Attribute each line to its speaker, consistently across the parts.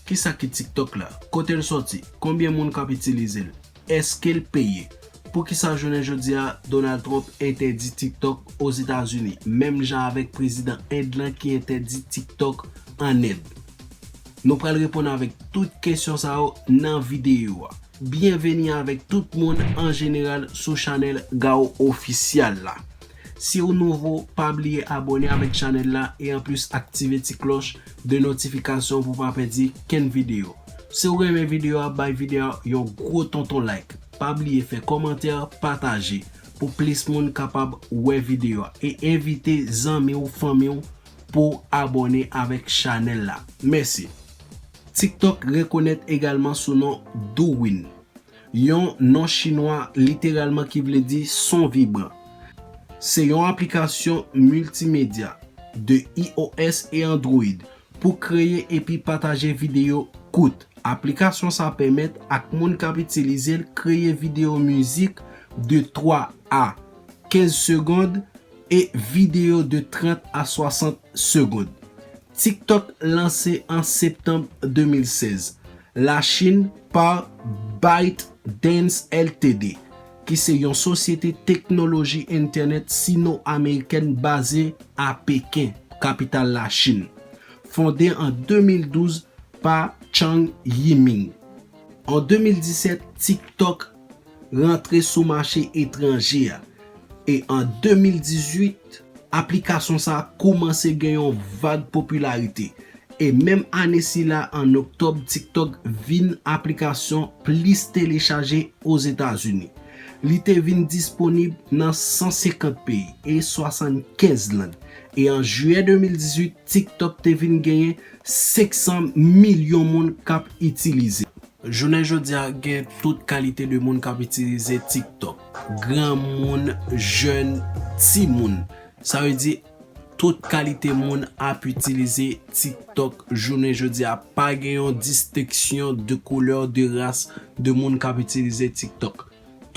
Speaker 1: Kisa ki TikTok la? Kote l sòti? Konbyen moun k ap itilize l? Èske l peye? Poukisa jounen jodi a Donald Trump entèdi TikTok Ozetazini menm jan avèk prezidan End lan ki entèdi TikTok an End? Nou pral reponn avèk tout kesyon sa yo nan videyo a. Byenveni avèk tout moun an jeneral sou chanèl Gao Official la. Siw nouvo pa bliye abone avèk chanèl la e anplis aktive ti klòch de notifikasyon pou pa pèdi kenn video. Siw renmen video a bay video a yon gwo tonton like. Pa bliye fè kòmantè pataje pou plis moun kapab wè video a e envite zanmiw fanmiw pou abone avèk chanèl la. Mèsi. Tiktok rekonèt egalman sou non Douwin. Yon non chinwa literalman ki vle di son vibran. Se yon aplikasyon miltimedya de iOS e Android pou kreye epi pataje videyo kout. Aplikasyon sa pèmèt ak moun k ap itilize l kreye videyo mizik de 3 a 15 segond e videyo de 30 a 60 segond. TikTok lanse an septanm 2016, Lachin pa ByteDance Ltd. Ki se yon sosyete teknoloji entènèt sino-amerikèn baze a Peken, kapital Lachin. Fonde an 2012 pa Chang Yiming. An 2017, TikTok rantre sou mache etranje a e an 2018 aplikasyon sa koumanse gen yon vag popilarite e menm ane sila an oktòb TikTok vin aplikasyon plis telechaje Ozetazini. Li te vin disponib nan 150 peyi e 75 lang e an jiyè 2018 TikTok te vin genyen 500 milyon moun k ap itilize l. Jounen jodi a gen tout kalite de moun k ap itilize TikTok. Granmoun, jèn, timoun. Sa vle di tout kalite moun ap itilize TikTok jounen jodi a. Pa gen yon disteksyon de koulè, de ras, de moun k ap itilize TikTok.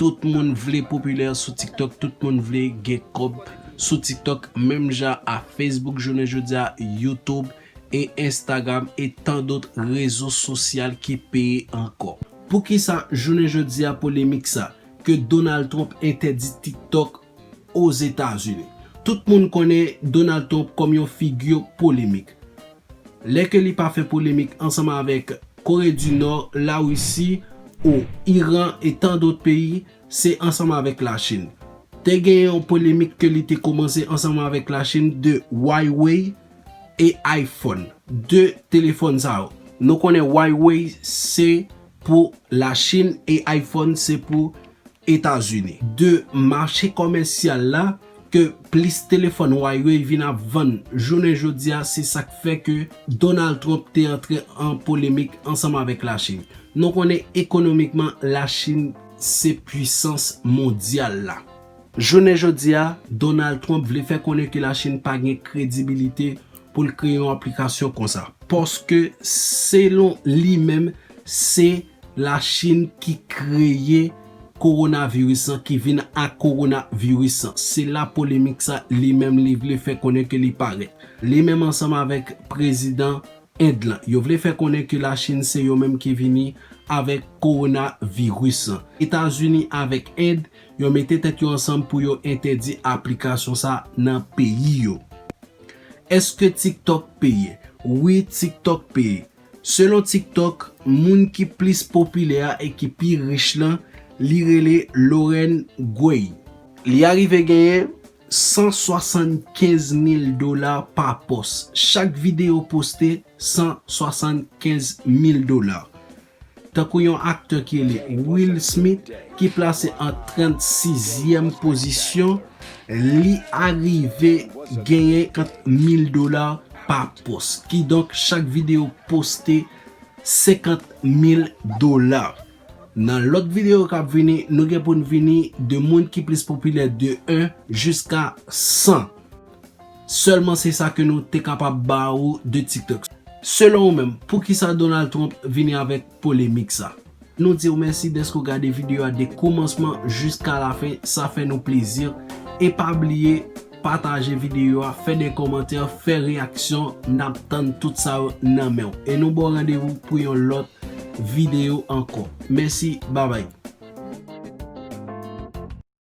Speaker 1: Tout moun vle popilè sou TikTok, tout moun vle gen kòb sou TikTok menm jan a Facebook jounen jodi a, Youtube, e Instagram e tan dot rezo sosyal ki peye ankò. Poukisa jounen jodi a polemik sa, ke Donald Trump entèdi TikTok Ozetazini? Tout moun konnen Donald Trump kòm yon figi polemik. Lè ke li pa fè polemik ansanm avèk Kore di Nò, Larisi ou Iran e tan dot peyi, se ansanm avèk Lachin. Te gen yon polemik ke li te komanse ansanm avèk Lachin de Huawei, e iPhone. 2 telefòn sa yo. Nou konnen Huawei se pou la Chin e iPhone se pou Etazini. 2 mache komèsyal la ke plis telefòn Huawei vin ap vann jounen jodi a se sa k fè ke Donald Trump te antre an polemik ansanm avèk la Chin. Nou konnen ekonomikman la Chin se pwisans mondyal la. Jounen jodi a, Donald Trump vle fè konnen ke Lachin pa gen kredibilite pou l kreye yon aplikasyon konsa, paske selon li menm, se Lachin ki kreye kowonaviris lan, ki vin ak kowonaviris lan. Se la polemik sa li menm li vle fè konnen ke li parèt. Li menm ansanm avèk prezidan End lan, yo vle fè konnen ke Lachin se yo menm ki vini avèk kowonaviris lan. Etazini avèk End, Yo mete tèt yo ansanm pou yo entèdi aplikasyon sa nan peyi yo. Eske TikTok peye? Wi TikTok peye. Selon TikTok, moun ki plis popilè a e ki pi rich lan, li rele Lauren Gray. Li arive genyen 175 mil dola pa pòs. Chak videyo poste 175 mil dola. Tankou yon aktè ki rele Will Smith ki plase an 36 zièm pozisyon li arive genyen kant mil dola pa pos ki donk chak video poste 50 mil dola. Nan lòt video kap vini nou gen poun vini de moun ki plis popilè de 1 jiska 100. Sèlman se sa ke nou te kapab ba ou de tiktok. Selon ou menm, poukisa Donald Trump vini avèk polemik sa? Nou di ou mèsi dèske ou gade video a de koumansman jiska lafen, sa fè nou plezi. E pa bliye pataje video a, fè de kòmantè, fè reyaksyon, nap tann tout sa yo nan menw. E nou baw randevou pou yon lòt video ankò. Mèsi, babay.